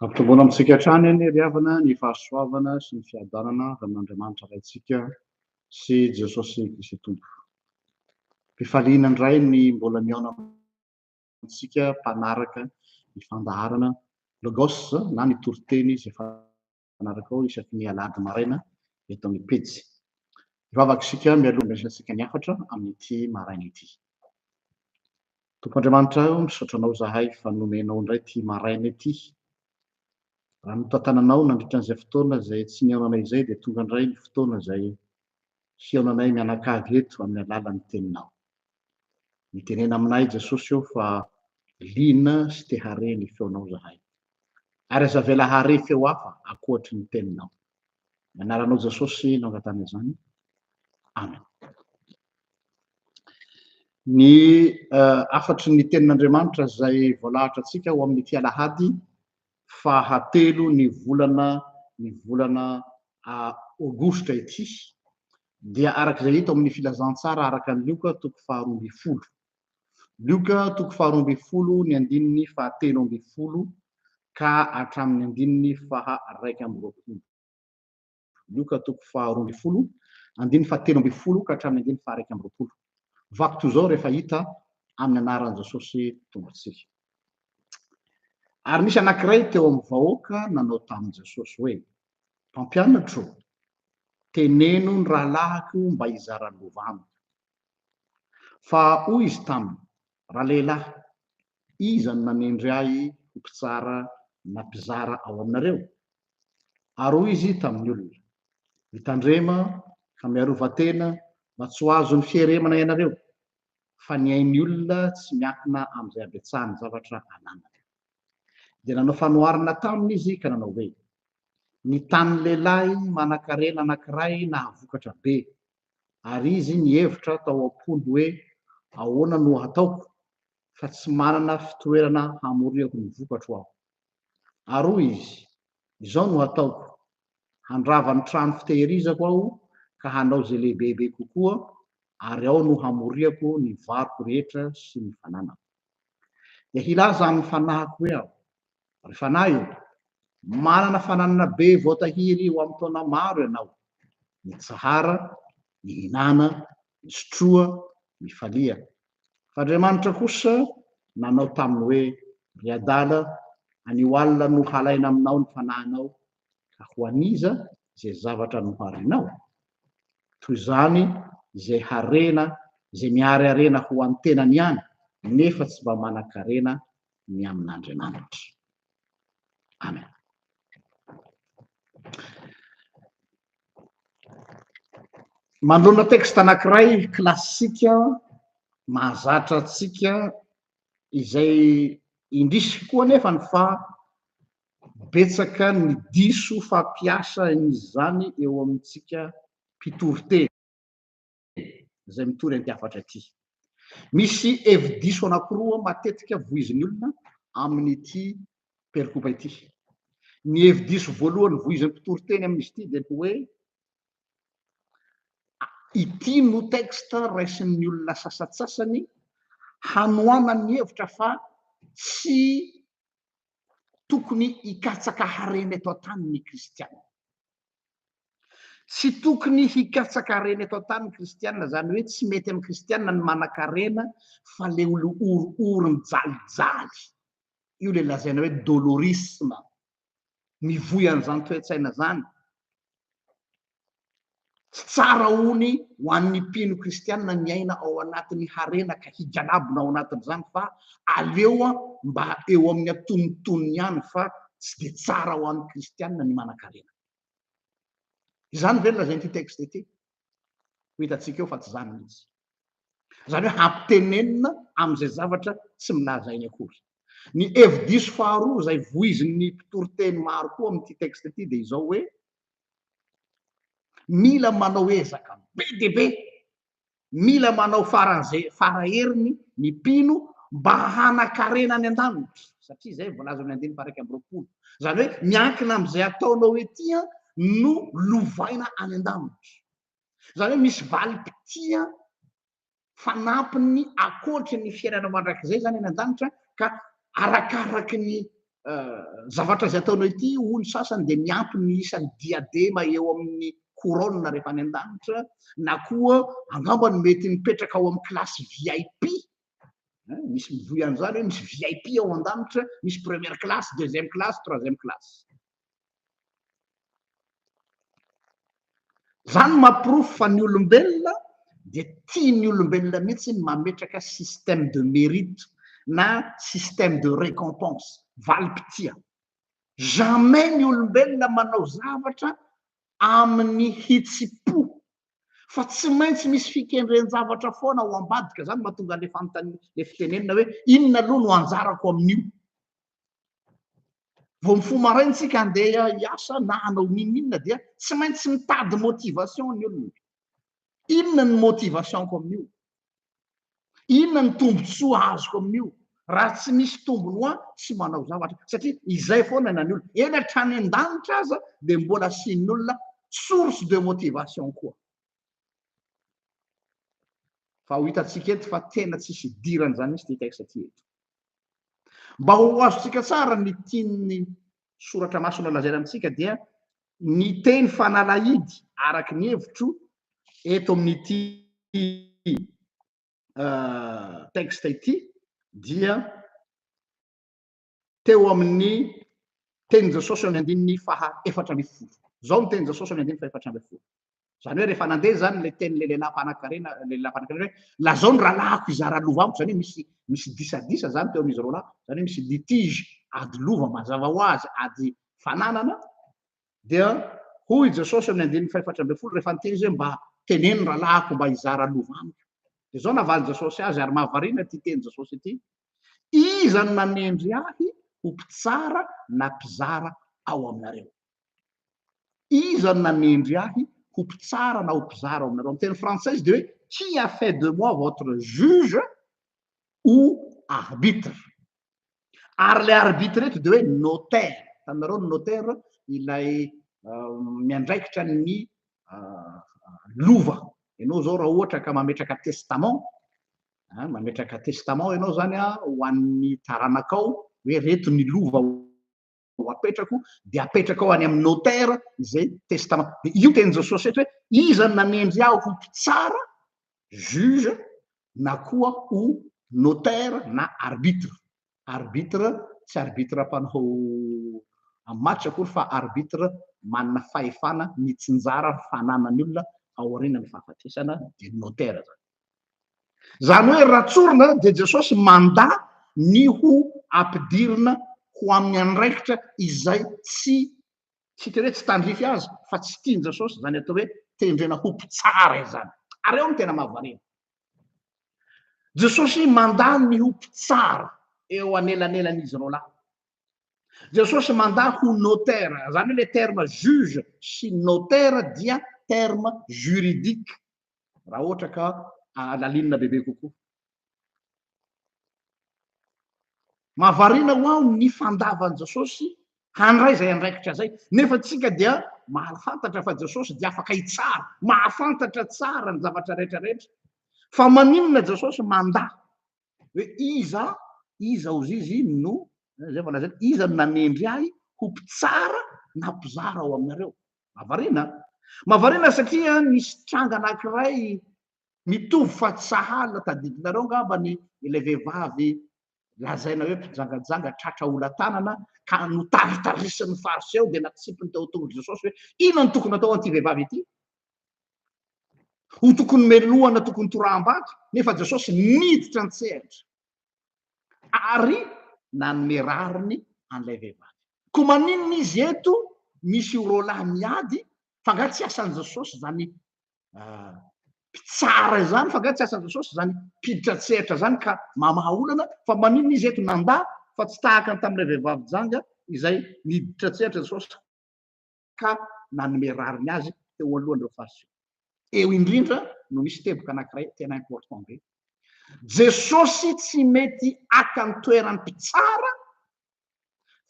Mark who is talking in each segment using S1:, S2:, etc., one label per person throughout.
S1: Ampitomboana amintsika hatrany anie ry havana ny fahasoavana sy ny fiadanana avy amin'Andriamanitra Raintsika sy Jesosy Kristy Tompo. Fifaliana indray ny mbola mihaona amintsika mpanaraka ny fandaharana Logos na ny toriteny izay fanarakaho isaky ny Alahady maraina eto amin'ny pejy. Hivavaka isika mialoha handraisantsika ny hafatra amin'ity maraina ity. Tompo Andriamanitra o, misaotra Anao izahay fa nomenao indray ity maraina ity. Raha notantananao nandritra an'izay fotoana izay tsy nihaonanay izay dia tonga indray ny fotoana izay hihaonanay mianakavy eto amin'ny alalan'ny Teninao. Mitenena aminay Jesosy ô fa liana sy te hare ny feonao izahay. Ary aza avela hare feo hafa ankoatry ny Teninao. Ny anaranao Jesosy no angatahana izany. Amen. Ny hafatry ny tenin'Andriamanitra izay voalahatra antsika ho amin'ity alahady fahatelo ny volana ny volana aogositra ity dia araka izay hita ao amin'ny filazantsara araka ny Lioka toko faharoa ambin'ny folo. Lioka toko faharoa ambin'ny folo ny andininy fahatelo ambin'ny folo ka hatramin'ny andininy faha iraika amby roapolo. Lioka toko faharoa ambin'ny folo andininy fahatelo ambin'ny folo ka hatramin'ny andininy faha iraika amby roapolo. Vaky toy izao rehefa hita amin'ny anaran'i Jesosy Tompontsika. Ary nisy anankiray teo amin'ny vahoaka nanao tamin'i Jesosy hoe, Mpampianatro, teneno ny rahalahiko mba hizara lova amiko. Fa hoy izy taminy, Ralehilahy, iza no nanendry ahy ho mpitsara na mpizara ao aminareo? Ary hoy izy tamin'ny olona, Mitandrema ka miarova tena mba tsy ho azon'ny fieremana ianareo, fa ny ain'ny olona tsy miankina amin'izay habetsahan'ny zavatra ananany. Dia nanao fanoharana taminy izy ka nanao hoe, Ny tanin'ny lehilahy manankarena anankiray nahavokatra be, ary izy nihevitra tao am-pony hoe ahoana no hataoko fa tsy manana fitoerana hamoriako ny vokatro aho. Ary hoy izy, izao no hataoko, handrava ny trano fitehirizako aho ka hanao izay lehibebe kokoa ary ao no hamoriako ny varoko rehetra sy ny fananako. Dia hilaza amin'ny fanahiko hoe aho, Ry fanahy ô, manana fananana be voatahiry ho amin'ny taona maro ianao, mitsahara, mihinana, misotroa, mifalia. F'Andriamanitra kosa nanao taminy hoe, Ry adala, anio alina no halaina aminao ny fanahinao, ka ho an'iza izay zavatra noharinao? Toy izany izay harena izay miariarena ho an'ny tenany ihany, nefa tsy mba manan-karena ny amin'Andriamanitra. Amen. Manoloana texte anankiray klasika mahazatra antsika izay indrisy koa nefa ny fa betsaka ny diso fampiasa izany eo amintsika mpitoriteny. izay mitory antiafatra ity. Misy hevi-diso anankiroa matetika voizin'ny olona amin'ity perikopa ity. Ny hevi-diso voalohany voizin'ny mpitory teny amin'izy ity dia ny hoe ity no texte raisin'ny olona sasatsasany hanohanan'ny hevitra fa tsy tokony hikatsaka harena eto an-tany ny kristiana. Tsy tokony hikatsaka harena eto an-tany ny kristiana, izany hoe tsy mety amin'ny kristiana ny manan-karena fa ilay oliory-ory mijalijaly, io ilay lazaina hoe dolorisme, mivoy an'izany toe-tsaina izany. Tsy tsara hono ho an'ny mpino kristiana ny aina ao anatin'ny harena ka higalabona ao anatin'izany fa aleo mba eo amin'ny antonontonony ihany fa tsy dia tsara ho an'ny kristiana ny manan-karena. Izany ve no lazain'ity texte ity? Ho hitantsika eo fa tsy izany mihitsy. Izany hoe hampitenenina amin'izay zavatra tsy milaza eny akory. Ny hevi-diso faharoa izay voizin'ny mpitoriteny maro koa amin'ity texte ity dia izao hoe mila manao ezaka be dia be Mila manao faran'izay fara heriny ny mpino mba hanan-karena any an-danitra, satria izay voalaza ao amin'ny andininy faha-iraika amby roapolo. Izany hoe miankina amin'izay ataonao ety no lovaina any an-danitra. Izany hoe misy valim-pitia fanampiny ankoatry ny fiainana mandrakizay izany any an-danitra ka arakaraky ny zavatra izay ataonao ity hoy ny sasany dia miampy ny isan'ny diadema eo amin'ny couronne rehefa any an-danitra na koa angamba no mety mipetraka ao amin'ny classe VIP eh, misy mivoy an'izany hoe misy VIP ao an-danitra misy première classe deuxième classe troisième classe Izany no mahaporofo fa ny olombelona dia tian'ny olombelona mihitsy ny mametraka système de mérite na système de récompense, valim-pitia. Jamais ny olombelona manao zavatra amin'ny hitsi-po fa tsy maintsy misy fikendren-javatra foana ao ambadika. Izany no mahatonga ilay fanontaniana, ilay fitenenana hoe inona aloha no anjarako amin'io? Vao mifoha maraina isika handeha hiasa na hanao n'inon'inona dia tsy maintsy mitady motivation ny olona. Inona ny motivation-ko amin'io? Inona ny tombontsoa azoko amin'io? Raha tsy misy tombony ho ahy, tsy manao zavatra. Satria izay foana na ny olona. Eny hatrany an-danitra aza dia mbola asian'ny olona source de motivation koa. Fa ho hitantsika eto fa tena tsisy idirany izany mihitsy ity texte ity eto. Mba ho azontsika tsara ny tian'ny soratra masina lazaina amintsika dia ny teny fanalahidy araka ny hevitro eto amin'ity texte ity dia teo amin'ny tenin'i Jesosy amin'ny andininy faha efatra ambin'ny folo. Izao ny tenin'i Jesosy amin'ny andininy faha efatra ambin'ny folo. Izany hoe rehefa nandeha izany ilay tenin'ilay lehilahy mpanankarena, ilay lehilahy mpanankarena hoe lazao ny rahalahiko hizara lova amiko, izany hoe misy misy disadisa izany teo amin'izy roa lahy, izany hoe misy litige, ady lova mazava ho azy, ady fananana, dia hoy i Jesosy amin'ny andininy faha efatra ambin'ny folo rehefa niteny izy hoe mba teneno ny rahalahiko mba hizara lova amiko. Dia izao navalin'i Jesosy azy, ary mahavariana ity tenin'i Jesosy ity, Iza no nanendry ahy ho mpitsara na mpizara ao aminareo? Iza no nanendry ahy ho mpitsara na ho mpizara ao aminareo? Amin'ny teny frantsay izy dia hoe Qui a fait de moi votre juge ou arbitre? Ary ilay arbitre eto dia hoe notaire. Hitanareo ny notaire? Ilay miandraikitra ny lova. Ianao izao raha ohatra ka mametraka testament, Mametraka testament ianao izany ho an'ny taranakao hoe reto ny lova ho apetrako dia apetrakao any amin'ny notaire izay testament. Dia io tenin'i Jesosy eto hoe iza nanendry aho ho mpitsara, juge, na koa ho notaire na arbitre. Arbitre tsy arbitre mpanao amin'ny match akory fa arbitre manana fahefana mitsinjara fananan'ny olona aorianan'ny fahafatesana dia ny notaire izany. Izany hoe raha tsorina dia Jesosy mandà ny ho ampidirina ho amin'ny andraikitra izay tsy tsy tena hoe tsy tandrify azy fa tsy tian'i Jesosy izany atao hoe tendrena ho mpitsara izany. Ary ao no tena mahavariana. Jesosy mandà ny ho mpitsara eo anelanelan'izy roalahy. Jesosy mandà ho notera, izany hoe ilay terme juge sy notera dia terme juridique, raha ohatra ka halalinina bebe kokoa. Mahavariana ho aho ny fandavan'i Jesosy handray izay andraikitra izay, nefa isika dia mahafantatra fa Jesosy dia afaka hitsara, mahafantatra tsara ny zavatra rehetra rehetra. Fa maninona Jesosy mandà hoe iza, iza hozy izy no, izay efa lazaina, iza no nanendry ahy ho mpitsara na mpizara ao aminareo? Mahavariana an! Mahavariana satria nisy tranga anankiray Mitovy fa tsy sahala, tadidinareo angamba ny ilay vehivavy lazaina hoe mpijangajanga tratra olantanana ka notaritarisin'ny Fariseo dia natsipiny teo an-tongon'i Jesosy hoe inona no tokony hatao an'ity vehivavy ity? Ho tokony melohana, tokony toraham-bato, nefa Jesosy niditra an-tsehatra ary nanome rariny an'ilay vehivavy. Koa maninona izy eto misy roalahy miady, fa angaha tsy asan'i Jesosy izany mpitsara izany fa nga tsy asan'i Jesosy izany mpiditra an-tsehatra izany ka mamaha olana fa maninona izy eto nanda fa tsy tahaka ny tamin'ilay vehivavy janga izay niditra an-tsehatra Jesosy ka nanome rariny azy teo alohan'ireo Fariseo. Eo indrindra no nisy teboka anankiray tena important be. Jesosy tsy mety haka ny toeran'ny mpitsara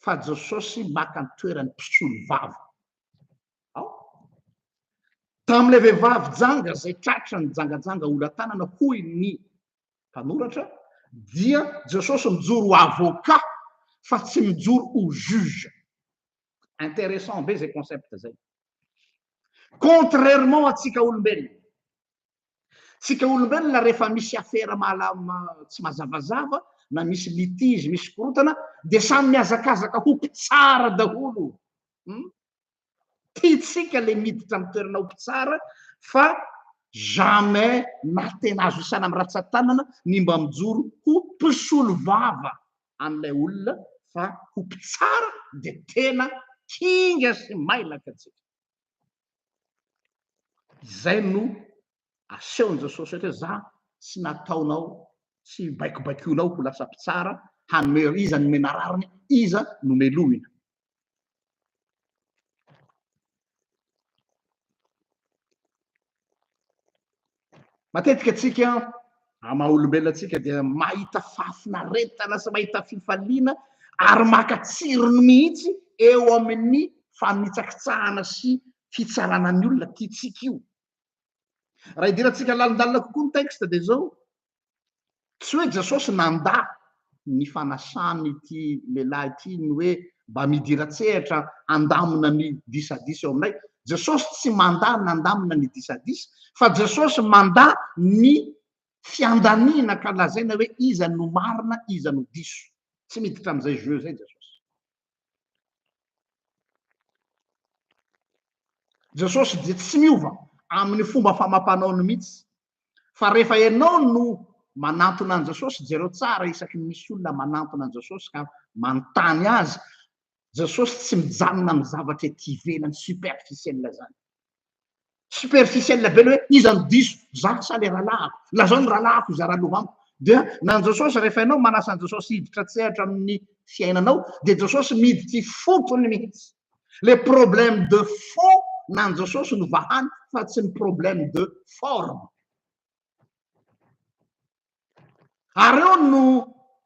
S1: fa Jesosy maka ny toeran'ny mpisolovava. Ao. Tamin'ilay vehivavy janga izay tratra nijangajanga olantanana, hoy ny mpanoratra, dia Jesosy mijoro ho avocat fa tsy mijoro ho juge. Intéressant be izay concept izay. Contrairement antsika olombelona. Tsika olombelona rehefa misy afera mahala tsy mazavazava na misy litige, misy korotana dia samy mihazakazaka ho mpitsara daholo. Hmm? Tiantsika le miditra amin'ny toerana ho mpitsara fa jamais na tena azo isana amin'ny ratsan-tanana ny mba mijoro ho mpisolo vava an'ilay olona fa ho mpitsara dia tena kinga sy mailaka tsika. Izay no asehon'i Jesosy ohatra hoe za tsy nataonao, tsy baikobaikoinao ho lasa mpitsara hanome iza nomena rariny, iza nomelohina. Matetika antsika amin'ny maha olombelona antsika dia mahita fahafinaretana sy mahita fifaliana ary maka tsirony mihitsy eo amin'ny fanitsakitsahana sy fitsarana ny olona, tiantsika io. Raha idirantsika lalindalina kokoa ny texte dia izao, Tsy hoe Jesosy nandà ny fanasan'ity lehilahy ity ny hoe mba midira-tsehatra handamina ny disadisa eo aminay. Jesosy tsy mandà ny handamina ny disadisa, fa Jesosy mandà ny fiandaniana ka lazaina hoe iza no marina, iza no diso. Tsy miditra amin'izay jeu izay Jesosy. Jesosy dia tsy miova amin'ny fomba famam-panaony mihitsy fa rehefa ianao no manantona an'i Jesosy, jereo tsara isaky ny misy olona manantona an'i Jesosy ka manontany azy, Jesosy tsy mijanona amin'ny zavatra ety ivelany superficiel izany. Superficiel be le hoe iza no diso, za sa le rahalahiko, lazao ny rahalahiko izay raloha amiko. Dia na an'i Jesosy rehefa ianao manasa an'i Jesosy hiditra an-tsehatra amin'ny fiainanao dia Jesosy miditra ifotony mihitsy. Le problème de fond nan Jesosy no vahany fa tsy ny problème de forme. Ary eo no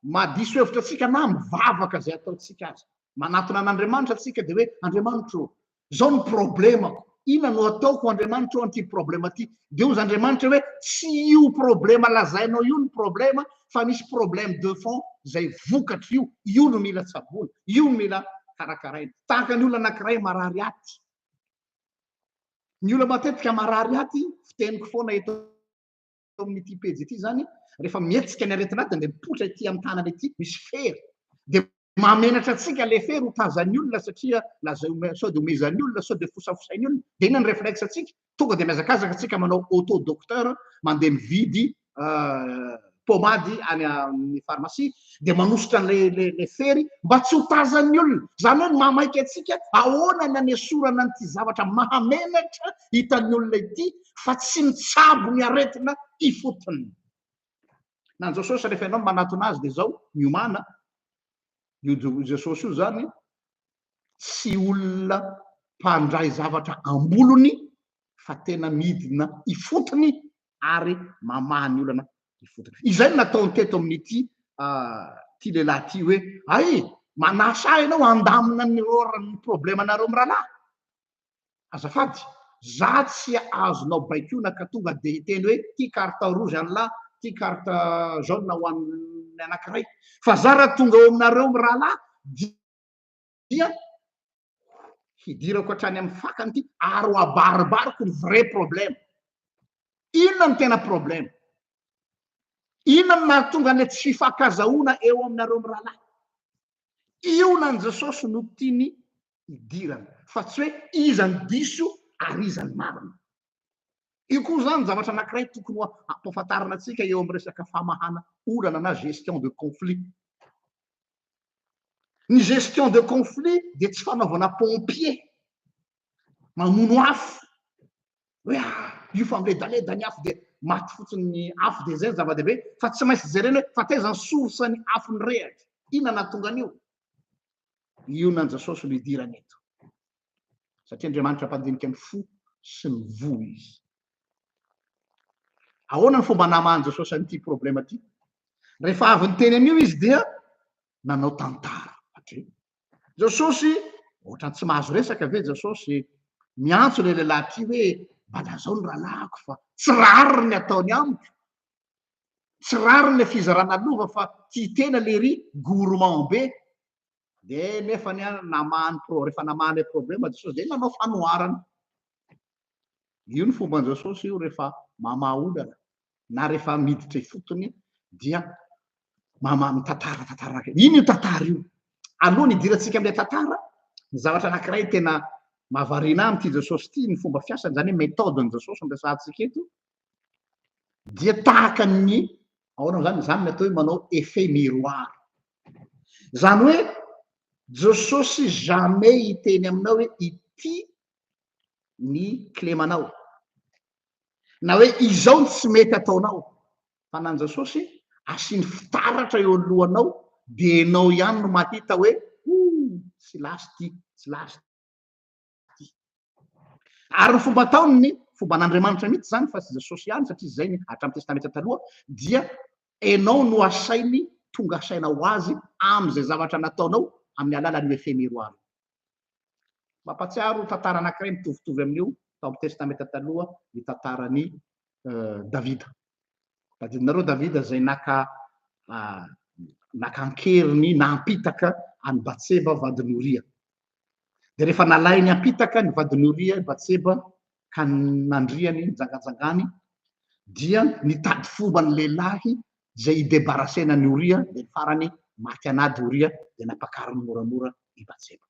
S1: maha diso hevitra antsika na mivavaka izay ataontsika aza. Manatona an'Andriamanitra antsika dia hoe Andriamanitro ô, izao ny problemako. Inona no atao ho Andriamanitra eo an'ity problema ity? Dia hozy Andriamanitra hoe, tsy io problema lazainao io ny problema fa misy problème de fond izay vokatry io, io no mila tsaboina, io no mila karakaraina. Tahaka ny olona anankiray marary aty. Ny olona matetika marary aty, fiteniko foana eto, eo amin'ity pejy ity izany, rehefa mihetsika ny aretina dia andeha mipoitra ity amin'ny tanana ity, misy fery. Dia mahamenatra antsika ilay fery ho tazan'ny olona satria lazaina sao dia omezan'ny olona, sao dia fosafosain'ny olona. Dia inona ny réflexe antsika? Tonga dia mihazakazaka antsika manao auto docteur, mandeha mividy pomady any amin'ny farmasia, dia manosotra an'ilay fery mba tsy ho tazan'ny olona. Izany hoe mahamaika antsika ahoana ny anesorana an'ity zavatra mahamenatra hitan'ny olona ity, fa tsy mitsabo ny aretina ifotony. Na Jesosy rehefa ianao no manatona azy dia izao miomana, io Jesosy io izany tsy olona mpandray zavatra ambolony fa tena midina ifotony ary mamaha ny olana ifotony. Izay no nataony teto amin'ity ity lehilahy ity hoe ay manasa ahy ianao handamina ny rôran'ny problemanareo mirahalahy. Azafady, za tsy azonao baikoina ka tonga dia hiteny hoe ty carte rouge anlah, ty carte jaune ho an'ny anankiray. Fa za raha tonga ao aminareo mirahalahy dia hidirako hatrany amin'ny fakany ity ary ho abaribariko ny vrai problème. Inona no tena problème? Inona no nahatonga an'ilay tsy fifankazahoana eo aminareo mirahalahy? Io na an'i Jesosy no tiany hidirana fa tsy hoe iza no diso ary iza no marina. Io koa izany zavatra anankiray tokony hampahafantarina antsika eo amin'ny resaka famahana olana na gestion de conflit. Ny gestion de conflit dia tsy fanaovana pompier mamono afo hoe ah, io fa miledaleda ny afo dia maty fotsiny ny afo dia izay ny zava-dehibe fa tsy maintsy jerena hoe fa taiza ny source ny afo nirehatra, inona nahatonga an'io. Ionan'i Jesosy no idirany eto. Satria Andriamanitra mpandinika ny fo sy ny voa izy. Ahoana ny fomba namahan'i Jesosy an'ity problema ity? Rehefa avy niteny an'io izy dia nanao tantara. Satria Jesosy, ohatrany tsy mahazo resaka ve Jesosy miantso ilay lehilahy ity hoe mba lazao ny rahalahiko fa tsy rariny ny ataony amiko. tsy rariny le fizarana lova fa tia tena lery gourmand be de nefany a namahany pro refa namahany le problema jesosy de nanao fanoharana io ny fomban jesosy io refa mamaha olana na refa miditra ifotony dia mamaha mitantara tantara ino io tantara io aloha ny hidirantsika amle tantara ny zavatra anakiray tena mahavariana ahy amty jesosy ty ny fomba fiasany zany hoe methode ny jesosy ampiasantsika eto dia tahaka ny ahoana moa zany, izany ny atao hoe manao effet miroir. Izany hoe Jesosy jamais hiteny aminao hoe ity ny kilemanao, na hoe izao ny tsy mety ataonao, fa na an'i Jesosy asiany fitaratra eo ny lohanao dia ianao ihany no mahita hoe oh, tsy lasa ity, tsy lasa. ity. Ary ny fomba ataony ny fomba an'Andriamanitra mihitsy izany fa tsy Jesosy ihany satria izay ny hatramin'ny Testamenta Taloha dia enao no asainy tonga saina ho azy amin'izay zavatra nataonao amin'ny alalan'io efemeroara io. Mampatsiaro tantara anankiray mitovitovy amin'io tao amin'ny Testamenta Taloha ny tantaran'i Davida. Tadidinareo Davida izay naka naka an-keriny nampitaka an'i Batseba vadin'i Oria. Dia rehefa nalainy hampitaka ny vadin'i Oria i Batseba ka nandriany nijangajangany dia nitady fomba ny lehilahy izay hidebarasena an'i Oria dia farany maty an'ady Oria dia nampakariny moramora i Batseba.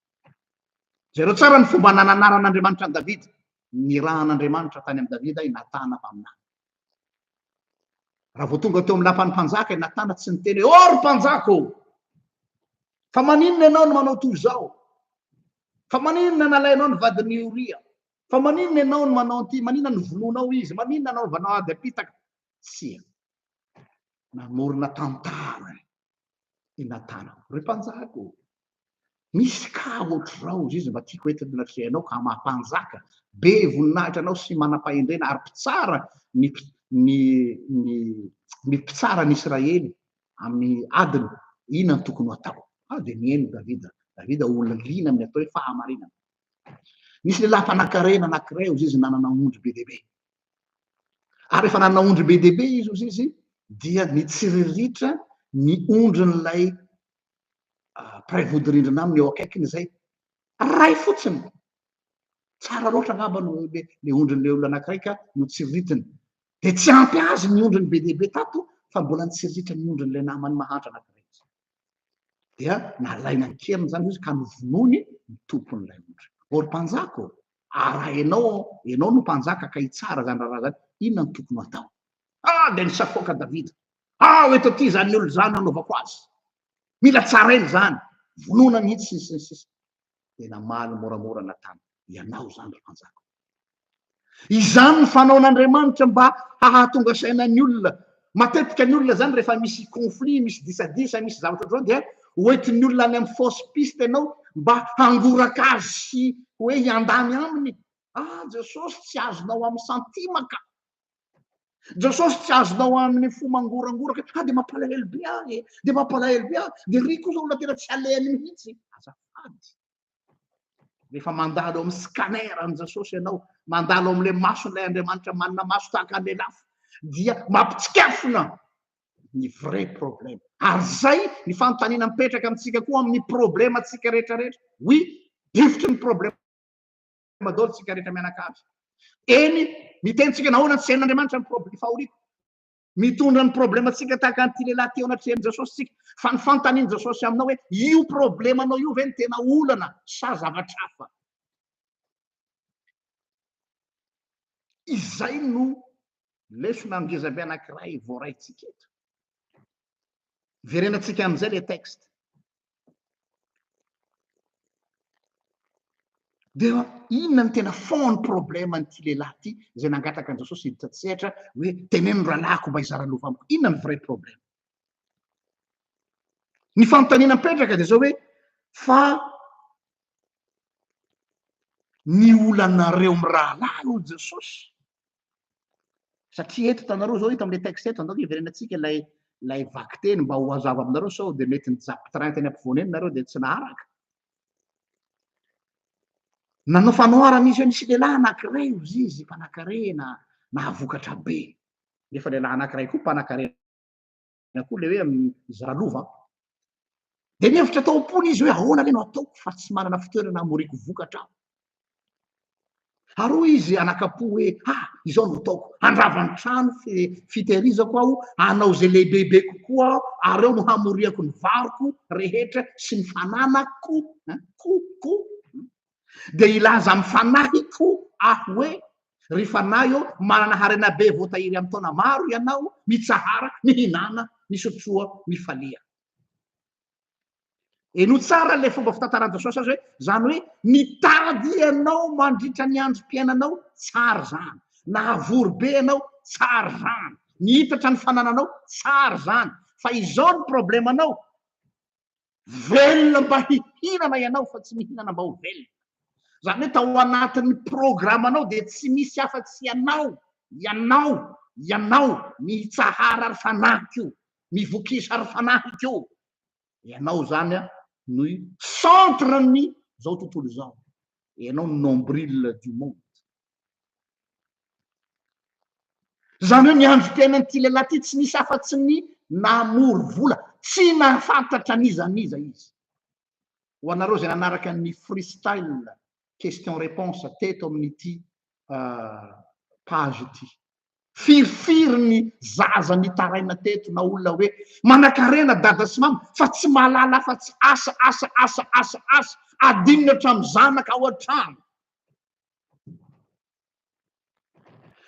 S1: Jereo tsara ny fomba nananaran'Andriamanitra an'i Davida. nirahan'Andriamanitra tany amin'i Davida i Natana mpaminany. Raha vao tonga teo amin'ny lapan'ny mpanjaka i Natana, tsy niteny hoe, ô ry mpanjaka ô! Fa maninona ianao no manao toy izao? Fa maninona nalainao ny vadin'i Oria? Fa maninona ianao no manao an'ity? Maninona no vonoinao izy? Maninona no anaovanao ady am-pitaka? Tsia. Namorona tantara i Natana. Ry mpanjaka ô, misy kà hoatr'izao, izy izy mba tiako entiny ny atrehinao ka maha mpanjaka, be voninahitra anao sy manam-pahendrena ary mpitsara ny ny ny ny mpitsara ny Israely amin'ny adiny, inona no tokony ho atao? Ah, dia nihaino Davida. Davida olona liana amin'ny atao hoe fahamarinana. Nisy lehilahy mpanan-karena anankiray, izy izy nanana ondry be dia be. Ary rehefa nanana ondry be dia be izy, hoy izy, dia nitsiriritra ny ondrin'ilay mpiray vodirindrina aminy eo akaikiny izay. Ray fotsiny. Tsara loatra angamba no le ondrin'ilay olona anankiray ka notsiriritiny. Dia tsy ampy azy ny ondriny be dia be tato fa mbola nitsiriritra ny ondrin'ilay namany mahantra anankiray. dia nalaina an-keriny izany izy ka novonoiny ny tompon'ilay ondry. Ô ry mpanjaka ô, ary raha ianao aho, ianao no mpanjaka ka hitsara izany raharaha izany, inona no tokony ho atao? Ah! dia nisafoaka Davida, Ao eto aty izany olona izany hanaovako azy. Mila tsaraina izany, vonoina mihitsy sy ny sisa sy ny sisa. tena maly moramora natana ianao izany ry mpanjaka o! Izany ny fanaon'Andriamanitra mba hahatonga saina ny olona. Matetika ny olona izany rehefa misy conflit, misy disadisa, misy zavatra ohatr'izao dia hoentin'ny olona any amin'ny fausse piste ianao mba hangoraka azy sy hoe hiandany aminy. Ah Jesosy tsy azonao amin'ny santima ka! Jesosy tsy azonao amin'ny fo mangorangoraka, ah dia mampalahelo be ahy e, dia mampalahelo be ahy, dia ry kosa olona tena tsy alehany mihitsy, azafady. Rehefa mandalo amin'ny scanner an'i Jesosy ianao, mandalo amin'ilay mason'ilay Andriamanitra manana maso tahaka an'ilay lafo, dia mampitsikafona ny vrai problème. Ary izay ny fanontaniana mipetraka amintsika koa amin'ny problemantsika rehetra rehetra. Oui, difotry ny problème. madôly tsika rehetra mianakavy eny miteny tsika nahoana tsy hain'andriamanitra ny problema fahoriana mitondra ny problema tsika tahaka an'ity lehilahy teo anatrehan'i jesosy tsika fa ny fantanin'i jesosy aminao hoe io problema anao io ve ny tena olana sa zavatra hafa izay no lesona ngezabe anankiray voaraintsika eto verenantsika amin'izay le texte De inona no tena fond problème an'ity lehilahy ity izay nangataka an'i Jesosy hiditra an-tsehatra hoe teneno ny rahalahiko mba hizara lova amiko. Inona ny vrai problème? Ny fanontaniana mipetraka dia zao hoe fa ny olanareo mirahalahy hoy Jesosy Satria eto hitanareo izao eto amin'ilay texte eto, andao ve hiverenantsika ilay ilay vakiteny mba ho hazava aminareo sao dia mety nijapy train teny ampovoany eny nareo dia tsy naharaka. Nanao fanoharana izy hoe nisy lehilahy anankiray ozy izy mpanakarena nahavokatra be. Nefa lehilahy anankiray koa mpanakarena na koa le hoe izy ralova an. Dia nihevitra tao am-pony izy hoe ahoana le no ataoko fa tsy manana fitoerana hamoriako vokatra aho. Haroa izy anakapo hoe ha ah, izao no ataoko, handrava ny trano fitehirizako aho, hanao izay lehibebe kokoa aho, ary eo no hamoriako ny varoko rehetra sy ny fananako. Ko, ko, dia hilaza amin'ny fanahiko aho hoe, Ry fanahy ô, manana harena be voatahiry amin'ny taona maro ianao, mitsahara, mihinàna, misotroa, mifalia. Henoy tsara ilay fomba fitantaran'i Jesosy azy hoe, izany hoe nitady ianao mandritra ny androm-piainanao, tsara izany, nahavory be ianao, tsara izany, nihitatra ny fanananao, tsara izany, fa izao ny problemanao, velona mba hihinana ianao fa tsy mihinana mba ho velona. Izany hoe tao anatin'ny programanao dia tsy misy afa-tsy ianao, ianao, ianao, mitsahara ry fanahiko, mivokisa ry fanahiko. Ianao izany no centre-n'ny izao tontolo izao. Ianao no nombril du monde. Izany hoe ny androm-piainan'ity lehilahy ity tsy nisy afa-tsy ny namory vola. Tsy nahafantatra n'iza n'iza izy. Ho anareo izay nanaraka ny freestyle question réponse teto amin'ity page ity. Firifiry ny zaza nitaraina teto na olona hoe manakarena dada sy mama fa tsy mahalala afa-tsy asa, asa, asa, asa, asa. Adinony hatramin'ny zanaka ao an-trano.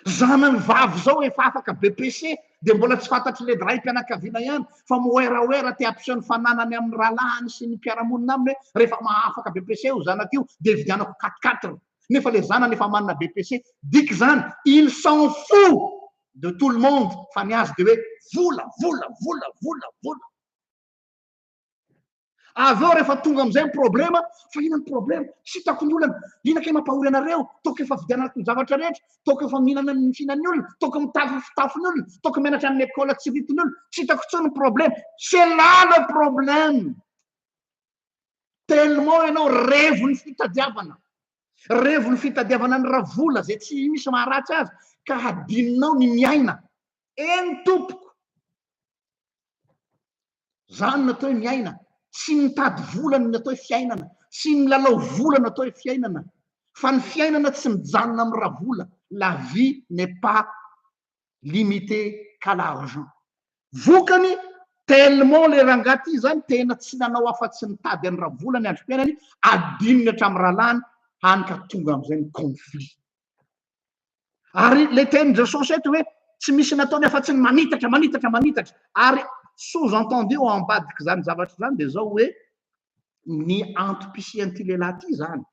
S1: Zanany vavy izao efa afaka BPC dia mbola tsy fantatry led raim-pianakaviana ihany fa moeraoera te hampiseho ny fananany amin'ny rahalahiny sy ny mpiara-monina aminy hoe rehefa mahafaka BPC io zanako io dia hividianako quatre quatre nefa ilay zanany efa manana BPC. Diky izany il s'en fou de tout le monde fa ny azy dia hoe vola, vola, vola, vola, vola. Avy eo rehefa tonga amin'izay ny problema, fa inona ny problema? Tsy hitako ny olana. Inona kay mampahory anareo? Toaka efa vidianako ny zavatra rehetra, toaka efa mihinana ny fihinan'ny olona, toaka mitafy ny fitafin'ny olona, toaka mianatra amin'ny école tsy vitin'ny olona. Tsy hitako intsony ny problema. C'est là le problème. Tellement ianao revon'ny fitadiavana. Revon'ny fitadiavana ny ravola izay tsy misy maharatsy azy ka hadinonao ny miaina. Eny tompoko. Zany no atao hoe miaina. Tsy ny mitady vola no atao hoe fiainana, tsy ny milalao vola no atao hoe fiainana, fa ny fiainana tsy mijanona amin'ny ravola, la vie n'est pas limitée qu'à l'argent. Vokany, tellement ilay rangahy ity izany tena tsy nanao afa-tsy nitady an'i ravola ny androm-piainany, adinony hatramin'ny rahalahiny, hany ka tonga amin'izay ny conflit. ary le tenin'i Jesosy eto hoe tsy misy nataony afa-tsy ny manitatra manitatra manitatra ary sous entendu ao ambadik'izany zavatra izany dia izao hoe ny antom-pisian'ity lehilahy ity izany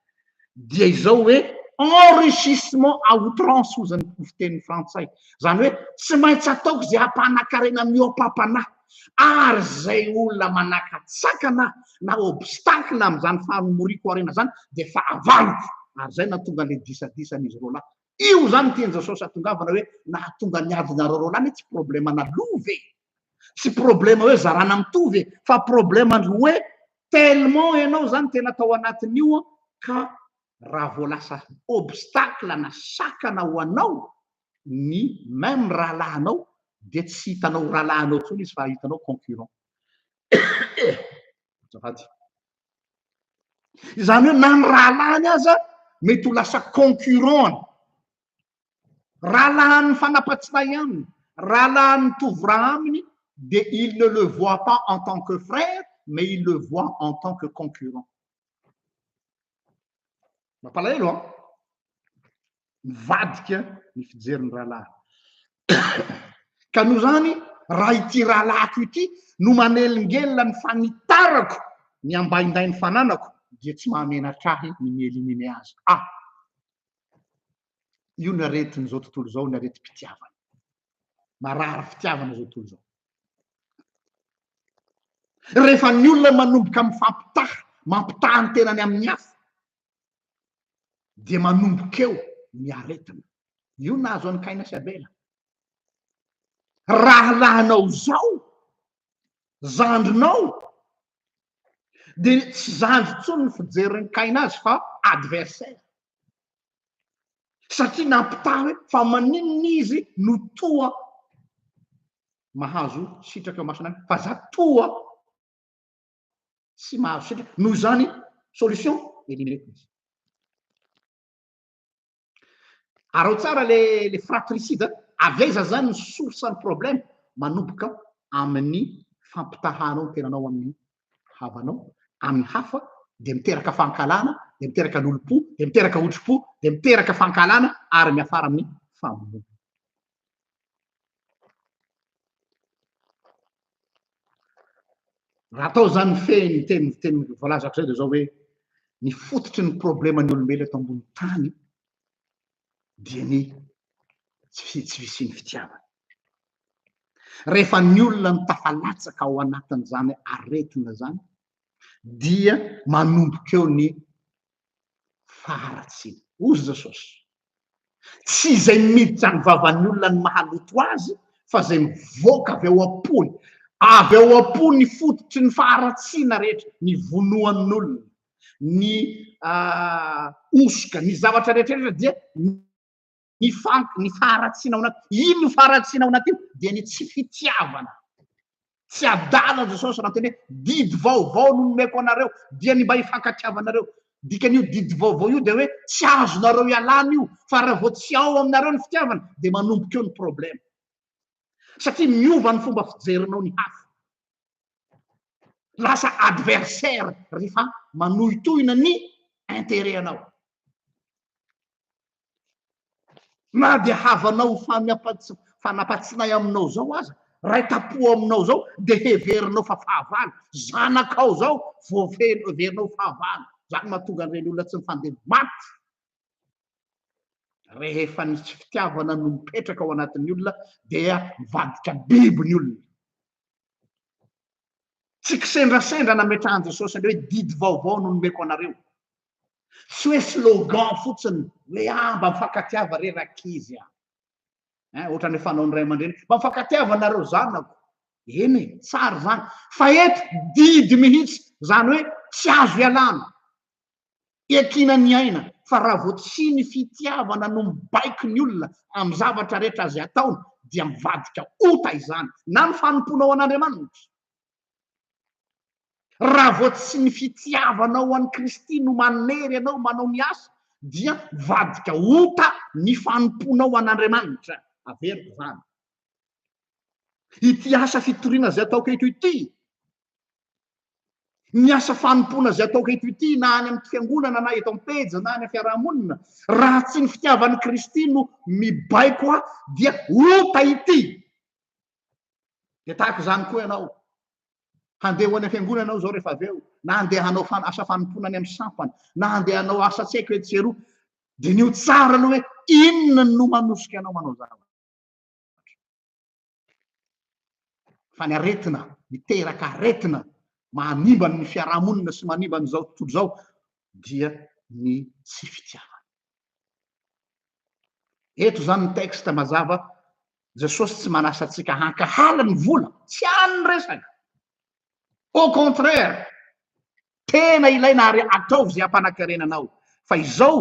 S1: dia izao hoe enrichissement à outrance hoy izany fiteny frantsay izany hoe tsy maintsy ataoko izay hampanakarena ny eo am-pampanahy ary izay olona manakatsakana na obstacle amin'izany fanomoriako aoriana izany dia fahavaloko, ary izay nahatonga an'ilay disadisan'izy roa lahy. Io izany no tian'i Jesosy hatongavana hoe nahatonga ny adinareo roa lahy, ne tsy problème ana lova e! Tsy problème hoe zarana mitovy e! Fa problème ndry hoe tellement ianao izany tena tao anatin'io ka raha vao lasa obstacle na sakana ho anao ny même rahalahinao dia tsy hitanao ho rahalahinao intsony izy fa hitanao concurrent. Azafady. Izany hoe na ny rahalahiny aza mety ho lasa concurrent-ny. Rahalahin'ny fanapatsilahy aminy, rahalahin'ny mitovy ra aminy dia il ne le voit pas en tant que frère mais il le voit en tant que concurrent. Mampalahelo an! mivadika ny fijerin'ny rahalahiny. Ka noho izany, raha ity rahalahiko ity no manelingelina ny fanitarako ny ambaindain'ny fananako, dia tsy mahamenatra ahy ny mi-éliminer azy. Ah! Io ny aretin'izao tontolo izao, ny aretim-pitiavana. Marary fitiavana izao tontolo izao. Rehefa ny olona manomboka mifampitaha, mampitaha ny tenany amin'ny hafa, dia manomboka eo ny aretina. Io nahazo an'i Kaina sy Abela. Rahalahinao izao, zandrinao, dia tsy zandry intsony ny fijerin'i Kaina azy fa adversaire. Satria nampitaha hoe fa maninona izy no toa mahazo sitraka eo mason'Andriamanitra fa za toa tsy mahazo sitraka. Noho izany, solution, éliminer koa izy. Araho tsara le le fratricide, avy aiza zany ny source ny problème? Manomboka amin'ny fampitahanao ny tenanao amin'ny havanao, amin'ny hafa, dia miteraka fankahalana, dia miteraka lolompo, dia miteraka otripo, dia miteraka fankahalana ary miafara amin'ny famonoana. Raha atao izany mifehy ny teny teny voalazako izay dia izao hoe ny fototry ny probleman'ny olombelo eto ambony tany dia ny tsy tsy fisian'ny fitiavana. Rehefa ny olona no tafalatsaka ao anatin'izany aretina izany dia manomboka eo ny faharatsiana. Hoy Jesosy, Tsy izay miditra ny vavan'ny olona no mahaloto azy, fa izay mivoaka avy ao am-pony. Avy ao am-po ny fototry ny faharatsiana rehetra, ny vonoan'olona, ny ah, hosoka, ny zavatra rehetrarehetra dia ny fank ny faharatsiana ao anaty ino ny faharatsiana ao anaty io dia ny tsy fitiavana tsy adala jesosy raha teny hoe didy vaovao no nomeko anareo dia ny mba hifankatiavanareo dikan'io didy vaovao io dia hoe tsy azonareo ialana io fa raha vao tsy ao aminareo ny fitiavana dia manomboka eo ny problema satria miova ny fomba fijerinao ny hafa lasa adversaire rehefa manohitohina ny intérêt anao Na dia havanao ho fanampatsinay aminao izao aza, raitapo aminao izao, dia heverinao fa fahavalo, zanakao izao vao heverinao ho fahavalo. Izany mahatonga an'ireny olona tsy mifandimby maty. Rehefa ny tsy fitiavana no mipetraka ao anatin'ny olona dia mivadika biby ny olona. Tsy kisendrasendra nametrahan'i Jesosy an'ireo hoe didy vaovao no nomeko anareo. Tsy hoe slogan fotsiny hoe ah mba mifankatiava re rankizy ah. Hein, ohatran'ny hoe fanaon'ny ray aman-dreny, mba mifankatiava nareo zanako. Eny e, tsara izany. Fa eto didy mihitsy, izany hoe tsy azo ialana. Iankiana ny aina fa raha vao tsy ny fitiavana no mibaiko ny olona amin'ny zavatra rehetra izay ataony dia mivadika ota izany na ny fanompoanao an'Andriamanitra Raha vao tsy ny fitiavanao an'i Kristy no manery anao manao ny asa, dia mivadika ota ny fanompoanao an'Andriamanitra. Averiko izany. Ity asa fitoriana izay ataoko eto ity, ny asa fanompoana izay ataoko eto ity na any amin'ny fiangonana na eto am-pejy na any amin'ny fiarahamonina raha tsy ny fitiavan'i Kristy no mibaiko aho dia ota ity dia tahaka izany koa ianao handeha ho any am-piangonana ianao izao rehefa avy eo na handeha hanao fan asa fanompoana any amin'ny sampana na handeha hanao asa tsy haiko etsy sy eroa diniho tsara aloha hoe inona no manosika anao manao zavatra fa ny aretina miteraka aretina manimba ny fiarahamonina sy manimba an'izao tontolo izao dia ny tsy fitiavana Eto izany ny texte mazava, Jesosy tsy manasa antsika hankahala ny vola, tsy any ny resaka, au contraire, tena ilaina ary ataovy izay hampanakarena anao, fa izao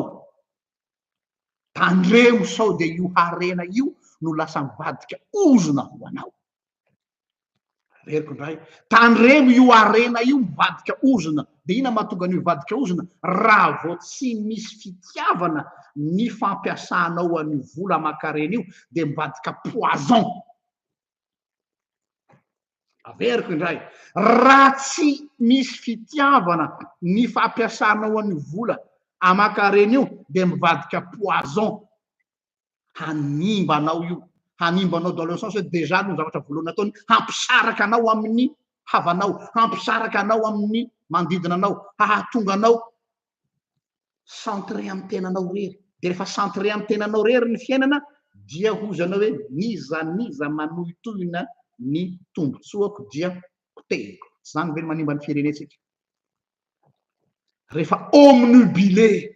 S1: tandremo sao dia io harena io no lasa mivadika ozona ho anao. reriko indray tandremo io harena io mivadika ozona de ina mahatonga an'io hivadika ozona raha vao tsy misy fitiavana ny fampiasanao an'io vola aman-karena io de mivadika poison averiko indray raha tsy misy fitiavana ny fampiasanao an'io vola aman-karena io de mivadika poison hanimba anao io, hanimba anao dans le sens hoe déjà aloha ny zavatra voalohany ataony hampisaraka anao amin'ny havanao, hampisaraka anao amin'ny manodidina anao, hahatonga anao centré amin'ny tenanao irery, de rehefa centré amin'ny tenanao irery ny fiainana dia hozana hoe n'iza n'iza manohitohina ny tombontsoako dia potehiko, tsy zany ve ny manimba ny firenentsika? rehefa omnubilé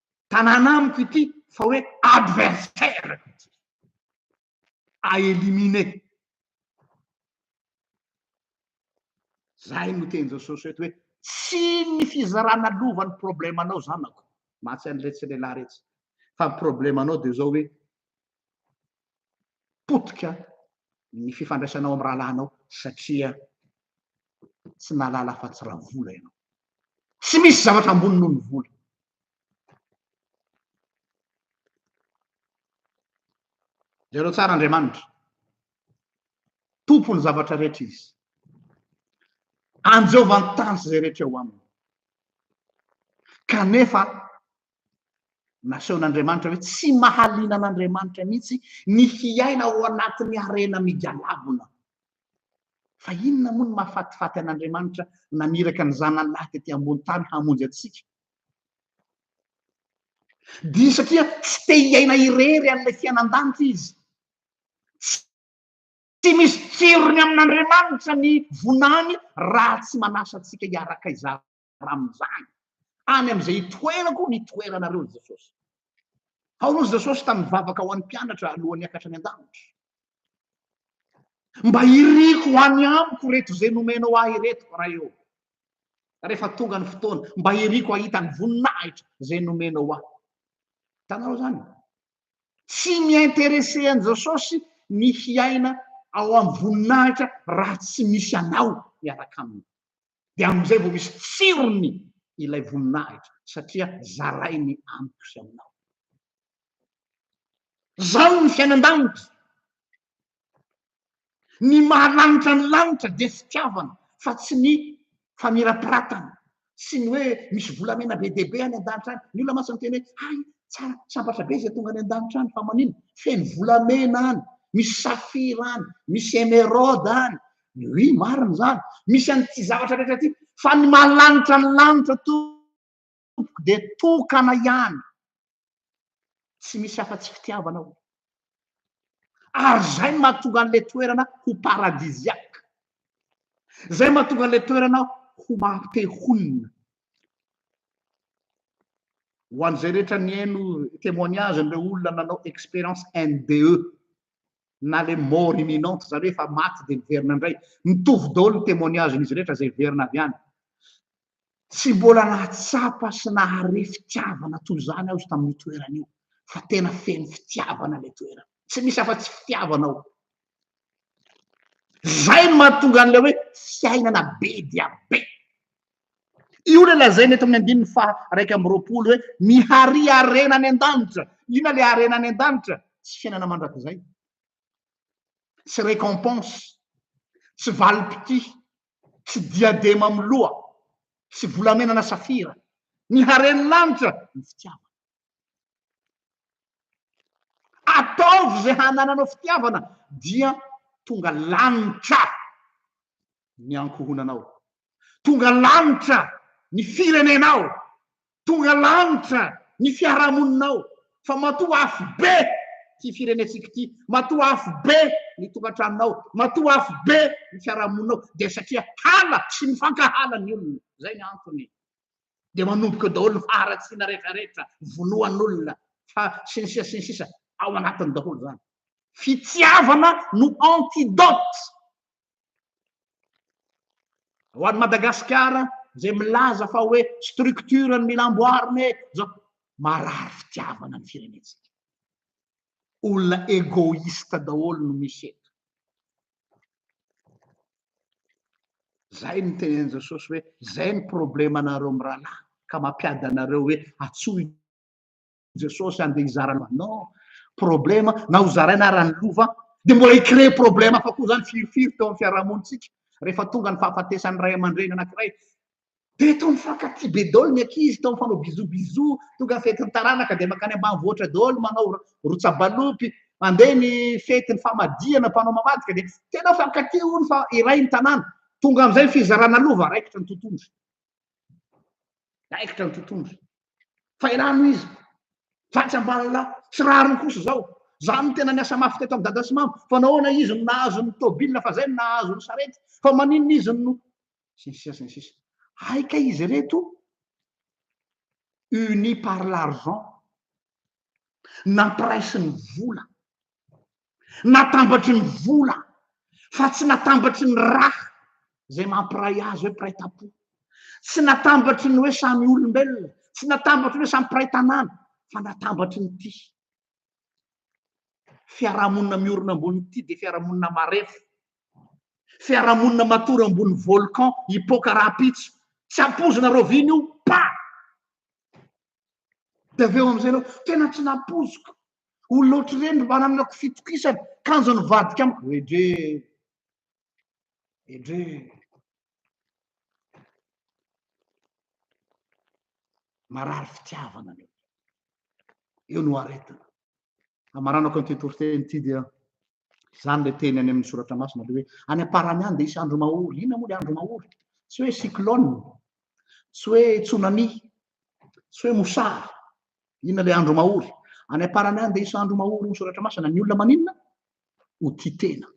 S1: tanàna amiko ity fa hoe adversaire-ko ity, à éliminer. Izay no teny Jesosy eto hoe tsy ny fizarana lova no problème-nao zanako, mahatsiahy an'iretsy lehilahy iretsy, fa ny problème-nao dia izao hoe potika ny fifandraisanao amin'ny rahalahinao satria tsy nahalala afa-tsy raha vola ianao. Tsy misy zavatra ambony noho ny vola. Jereo tsara Andriamanitra. Tompon'ny zavatra rehetra izy. Anjehovany tany sy izay rehetra eo aminy. Kanefa Nasehon'Andriamanitra hoe tsy mahaliana an'Andriamanitra mihitsy ny hiaina ao anatin'ny harena migalabona. Fa inona moa no mahafatifaty an'Andriamanitra naniraka ny zanany lahy tety ambony tany hamonjy antsika? Dia satria tsy te hiaina irery an'ilay fiainan-danitra izy. Tsy misy tsirony amin'Andriamanitra ny voninahiny raha tsy manasa antsika hiaraka izany. ramin'izany, any amin'izay itoerako ny itoeranareo, hoy Jesosy. Aory hoy Jesosy tamin'ny vavaka ho an'ny mpianatra alohan'ny hiakatra any an-danitra. Mba iriko any amiko ireto izay nomenao ahy ireto, Ray ô. Rehefa tonga ny fotoana, mba iriko hahita ny voninahitra izay nomenao ahy. Hitanareo izany? Tsy mi-intéressé an'i Jesosy ny hiaina ao amin'ny voninahitra raha tsy misy anao miaraka aminy. dia amin'izay vao misy tsirony ilay voninahitra satria zarainy amiko sy aminao. Zao ny fiainan-danitra. Ny mahalanitra ny lanitra dia fitiavana fa tsy ny famirapiratana sy ny hoe misy volamena be dia be any an-danitra any. Ny olona mantsy miteny hoe hay tsara sambatra be izay tonga any an-danitra any fa maninona feno volamena any, misy safira any, misy emeraude any, Oui, marina izany. Misy an'ity zavatra rehetra ity. Fa ny maha-lanitra ny lanitra tompoko dia tokana ihany. Tsy misy afa-tsy fitiavana ao. Ary izay no mahatonga an'ilay toerana ho paradisiaque. Izay mahatonga an'ilay toerana ho maha-te honina. Ho an'izay rehetra nihaino témoignage-n'ireo olona nanao expérience NDE, na le mort imminente zany hoe efa maty dia miverina indray, mitovy daholo ny témoignage n'izy rehetra izay hiverina avy any. Tsy mbola nahatsapa sy nahare fitiavana toy izany aho izy tamin'io toerana io, fa tena feno fitiavana ilay toerana, tsy misy afa tsy fitiavana ao. Zay no mahatonga an'ilay hoe fiainana be dia be. Io ilay lazaina eto amin'ny andininy faha iraika amby roapolo hoe mihary harena any an-danitra. Inona ilay harena any an-danitra? Tsy fiainana mandrakizay, tsy récompense, tsy valim-pitia, tsy diadema amin'ny loha, tsy volamena na safira. Ny haren'ny lanitra, ny fitiavana. Ataovy izay hanananao fitiavana dia tonga lanitra. ny ankohonanao. Tonga lanitra ny firenenao, tonga lanitra ny fiarahamoninao, fa matoa afobe ity firenentsika ity, matoa afobe ny tokantranonao, matoa afobe ny fiarahamoninao, dia satria hala sy mifankahala ny olona, izay ny antony. Dia manomboka eo daholo ny faharatsiana rehetra rehetra, vonoan'olona, fa sy ny sisa sy ny sisa, ao anatiny daholo izany. Fitiavana no antidote Ho an'i Madagasikara izay milaza fa hoe structure no mila amboarina e, zao marary fitiavana ny firenentsika. Olona égoïste daholo no misy eto. Zay ny tenin'i Jesosy hoe zay ny problemanareo mirahalahy ka mampiady anareo hoe atsoy Jesosy andeha hizara loha non problema na ho zaraina ara ny lova dia mbola hi-créer problema hafa koa zany firifiry teo amin'ny fiarahamonintsika rehefa tonga ny fahafatesan'ny ray aman-dreny anankiray dia eto mifankatia be daholo ny ankizy tao mifanao bisou bisou tonga ny fetin'ny taranaka dia makany ambanivohitra daholo manao rotsabalopy mandeha ny fetin'ny famadihana mpanao mamadika dia tena mifankatia hono fa iray ny tanàna tonga amin'izay ny fizarana lova raikitra ny tontondry raikitra ny tontondry fairano izy fa tsy ambalolahy sy rariny kosa zao zany tena niasa mafy teto am dada sy mama fa nahoana izy no nahazo ny tobile fa zay no nahazo ny sarety fa maninona izy no sy ny sisa sy ny sisa hay kay izy reto unis par l'argent nampiraisiny vola Natambatry ny vola fa tsy natambatry ny raha izay mampiray azy hoe mpiray tam-po. Tsy natambatry ny hoe samy olombelona, tsy natambatry ny hoe samy mpiray tanàna, fa natambatry ny ity. Fiarahamonina miorina ambony ity dia fiarahamonina marefo. Fiarahamonina matory ambony volcan hipoaka rahampitso. Tsy ampozinareo vina io, pa! Dia avy eo amin'izay ianao, tena tsy nampoiziko. Olona ohatr'ireny mba nananako fitokisana, kanjo nivadika amiko. Edre, edre. Marary fitiavana anie. Eo no aretina. Hamaranako an'ity toriteny ity dia Izany ilay teny any amin'ny soratra masina ilay hoe any am-parany any dia hisy andro mahory. Inona moa ilay andro mahory? Tsy hoe cyclone, tsy hoe tsunami, tsy hoe mosary. Inona ilay andro mahory? Any am-parany any dia hisy andro mahory ny soratra masina. Ny olona maninona? Ho tia tena,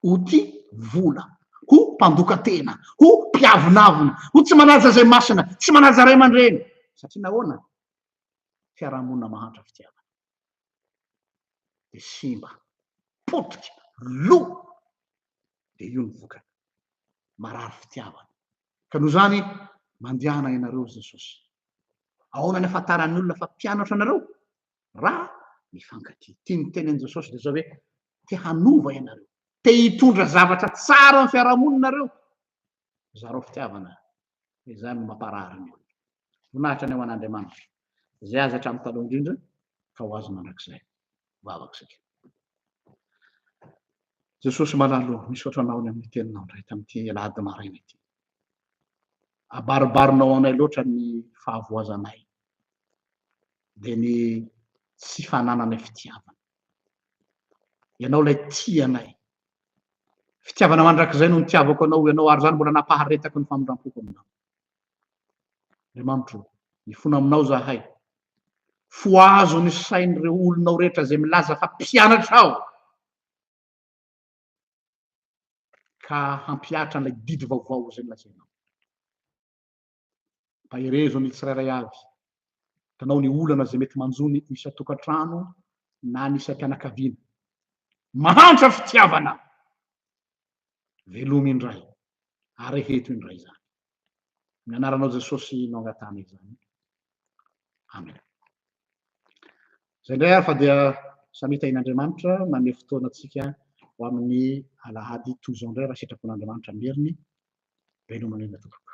S1: ho tia vola, ho mpandoka tena, ho mpiavonavona, ho tsy manaja izay masina, tsy manaja ray aman-dreny. Satria nahoana? Fiarahamonina mahantra fitiavana. de simba, potika, lo, de io ny vokany, marary fitiavana, ka noho izany mandehana ianareo ry Jesosy, ahoana ny afantaran'ny olona fa mpianatro anareo? raha mifankatia, ity ny tenin'i Jesosy de zao hoe te hanova ianareo, te hitondra zavatra tsara amin'ny fiarahamonina nareo, zarao fitiavana izany no mamparary ny olona. Voninahitra ny ho an'Andriamanitra izay azy hatramin'ny taloha indrindra ka ho azy mandrakizay. Vavaka isika. Jesosy malala o, misaotra Anao ny amin'ny teninao indray tamin'ity alahady maraina ity. Abaribarinao anay loatra ny fahavoazanay dia ny tsy fanananay fitiavana. Ianao ilay tia anay, Fitiavana mandrakizay no nitiavako anao, ianao ary izany mbola nampaharetako ny famindram-poko aminao. Andriamanitro, mifona aminao izahay. Fohazo ny sain'ireo olonao rehetra izay milaza fa mpianatrao, ka hampihatra an'ilay didy vaovao izay nolazainao. Tahirezo ny tsirairay avy. Tanao ny olana izay mety manjo ny isan-tokantrano na ny isam-pianakaviana. Mahantra fitiavana! Velomy indray, ary heto indray izany. Amin'ny anaranao Jesosy no angatahana izany. Amen. Izay indray ary fa dia samia tahin'Andriamanitra manome fotoana antsika ho amin'ny alahady toy izao indray raha sitrapon'Andriamanitra meriny Ben'ny omaly anao tompoko.